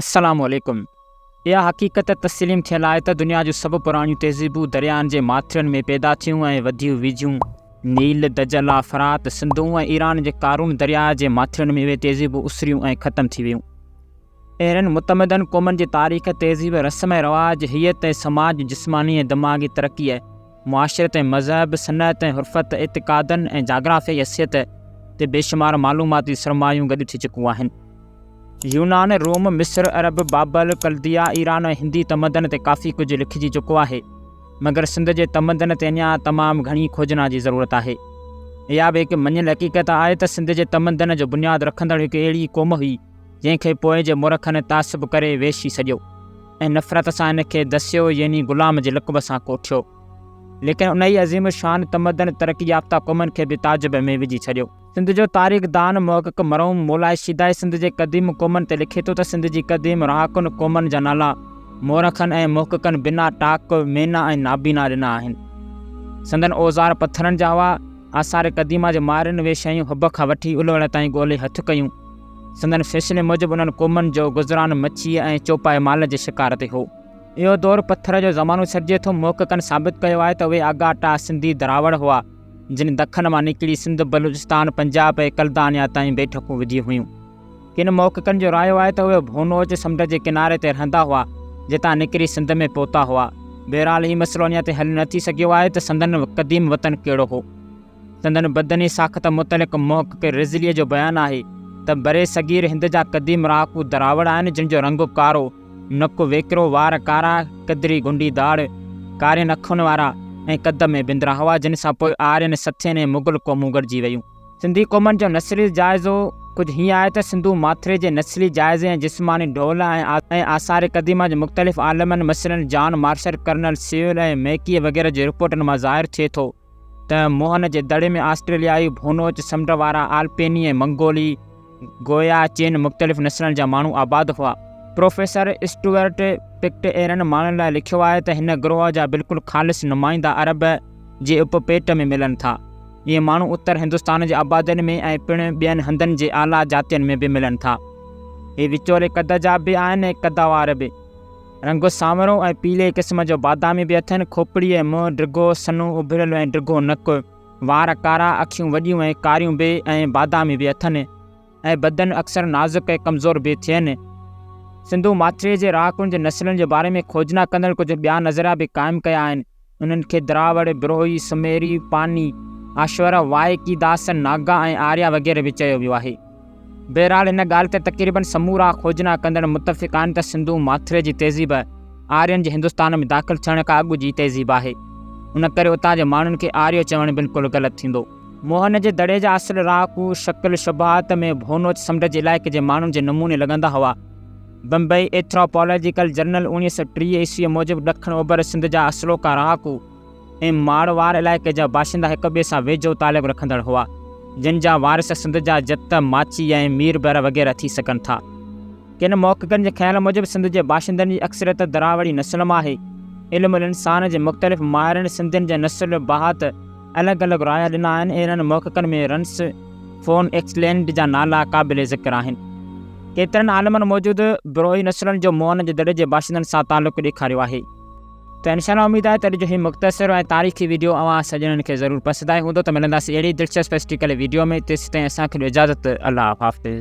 السلام عليڪم. اها حقيقت تسليم ٿيل آهي ته دنيا جون سڀ پراڻيون تهذيبون دريائن جي ماٿرين ۾ پيدا ٿيون ۽ وڌيون ويجهيون. نيل، دجله، فرات، سنڌو ۽ ايران جي قارون درياء جي ماٿرين ۾ اهي تهذيبون اسريون ۽ ختم ٿي ويون. اهڙين متمدن قومن جي تاريخ، تهذيب، رسم ۽ رواج، هيئت ۽ سماج، جسماني ۽ دماغي ترقيء، معاشرت ۽ مذهب، صنعت ۽ حرفت، اعتقادن ۽ جاگرافيائي حيثيت تي بيشمار معلوماتي سرمايون گڏ ٿي چڪون آهن. يونان، روم، مصر، عرب، بابل، ڪلديا، ايران ۽ هندي تمدن تي ڪافي ڪجهه لکجي چڪو آهي، مگر سنڌ جي تمدن تي اڃا تمام گهڻي کوجنا جي ضرورت آهي. اها به هڪ مڃيل حقيقت آهي ته سنڌ جي تمدن جو بنياد رکندڙ هڪ اهڙي قوم هئي، جنهن کي پوء جي مورخن تعصب ڪري ويشي سڏيو ۽ نفرت سان ان کي دسيو يعني غلام جي لقب سان ڪوٺيو. ليڪن انهيء عظيم الشان تمدن ترقي يافته قومن کي به تعجب ۾ وجهي ڇڏيو. سنڌ جو تاريخ دان محقق مرحوم مولائي شيدائي سنڌ جي قديم قومن تي لکي ٿو ته سنڌ جي قديم رهاڪن قومن جا نالا مورخن ۽ محققن بنا ٽاڪ، مينا ۽ نابينا ڏنا آهن. سندن اوزار پٿرن جا هئا. آثار قديمه جي مارين اهي شيون حب کان وٺي الوڙ تائين ڳولي هٿ ڪيون. سندن فيصلي موجب انهن قومن جو گذران مڇيء ۽ چوپائي مال جي شڪار تي هو. اهو دور پٿر جو زمانو سڏجي ٿو. محققن ثابت ڪيو آهي ته اهي آگا ٽا سنڌي دراوڙ هئا، جن دکن مان نڪري سنڌ، بلوچستان، پنجاب ۽ ڪلدانيا تائين بيٺڪون وڌي هيون. ڪن محققن جو رايو آهي ته اهي ڀونوچ سمنڊ جي ڪناري تي رهندا هئا، جتان نڪري سنڌ ۾ پهتا هئا. بهرحال هي مسئلو اڃا تائين حل نه ٿي سگهيو آهي ته سندن قديم وطن ڪهڙو هو. سندن بدني ساخت متعلق محقق رضليء جو بيان آهي ته برصغير هند جا قديم رهاڪو دراوڙ آهن جن جو رنگ ڪارو، نڪ ويڪرو، وار ڪارا، قدري گنڊي داڙهه، ڪارين اکين وارا ۽ قد ۾ بندرا هئا جن سان پوء آرين، سٿين ۽ مغل قومون گڏجي ويون. سنڌي قومن جو نسلي جائزو ڪجهه هيئن آهي ته سنڌو ماٿري جي نسلي جائزي ۽ جسماني ڍول ۽ آثار قديمه جي مختلف عالمن مثلاً جان مارشل، ڪرنل سيول ۽ ميڪيء وغيره جي رپورٽن مان ظاهر ٿئي ٿو ته موهن جي دڙي ۾ آسٽريليائي، ڀونوچ، سمنڊ وارا، آلپيني ۽ منگولي، گويا چين مختلف نسلن جا ماڻهو آباد هئا. پروفيسر اسٽوئرٽ پڪٽ اهڙن ماڻهن لاء لکيو آهي ته هن گروهه جا بلڪل خالص نمائندا عرب جي اپ پيٽ ۾ ملن ٿا. اهي ماڻهو اتر هندستان جي آبادين ۾ ۽ پڻ ٻين هنڌن جي اعليٰ جاتين ۾ به ملن ٿا. اهي وچولي قد جا به آهن ۽ قدوار به. رنگ سانورو ۽ پيلي قسم جو بادامي به اٿن. کوپڙي ۽ منهن ڊگهو، سنهون اڀريل ۽ ڊگهو نڪ. وار ڪارا، اکيون وڏيون ۽ ڪاريون به ۽ بادامي به اٿن ۽ بدن اڪثر نازڪ ۽ ڪمزور به ٿين. سنڌو ماٿريء جي رهاڪن جي نسلن جي باري ۾ کوجنا ڪندڙن ڪجهه ٻيا نظريا به قائم ڪيا آهن. انهن کي دراوڙ، بروهي، سميري، پاني، آشور، وائڪي، داس، ناگا ۽ آريا وغيره به چيو ويو آهي. بهرحال ان ڳالهه تي تقريبن سمورا کوجنا ڪندڙ متفق آهن ته سنڌو ماٿري جي تهذيب آرين جي هندستان ۾ داخل ٿيڻ کان اڳ جي تهذيب آهي. ان ڪري اتان جي ماڻهن کي آريو چوڻ بلڪل غلط ٿيندو. موهن جي دڙي جا اصل رهاڪو شڪل شباهت ۾ ڀونوچ سمنڊ جي علائقي جي ماڻهن جي نموني لڳندا هئا. بمبئي، ايٿراپالاجيڪل جرنل، اوڻيهه سؤ ٽيهه عيسويء موجب ڏکڻ اوڀر سنڌ جا اصلوڪا رهاڪو ۽ ماروئار علائقي جا باشندا هڪ ٻئي سان ويجهو تعلق رکندڙ هئا، جن جا وارث سنڌ جا جت، ماچي ۽ مير بحر وغيره ٿي سگهن ٿا. ڪن محققن جي خيال موجب سنڌ جي باشندن جي اڪثريت دراوڙي نسل مان آهي. علم الانسان جي مختلف ماهرن سنڌين جي نسل، بهات، الڳ الڳ رايا ڏنا آهن ۽ انهن محققن ۾ رنس، فون ايڪسلينڊ جا نالا قابل ذڪر آهن. ڪيترن عالمن موجود بروئي نسلن جو مؤن جي دڙي جي باشندن سان تعلق ڏيکاريو آهي. ته انشاء الله اميد آهي ته اڄ جو هي مختصر ۽ تاريخي ويڊيو اوهان سڄڻن کي ضرور پسند آيو هوندو ته ملنداسين اهڙي دلچسپ هسٽريڪل ويڊيو ۾ تيستائين اسان کي ڏيو اجازت الله حافظ.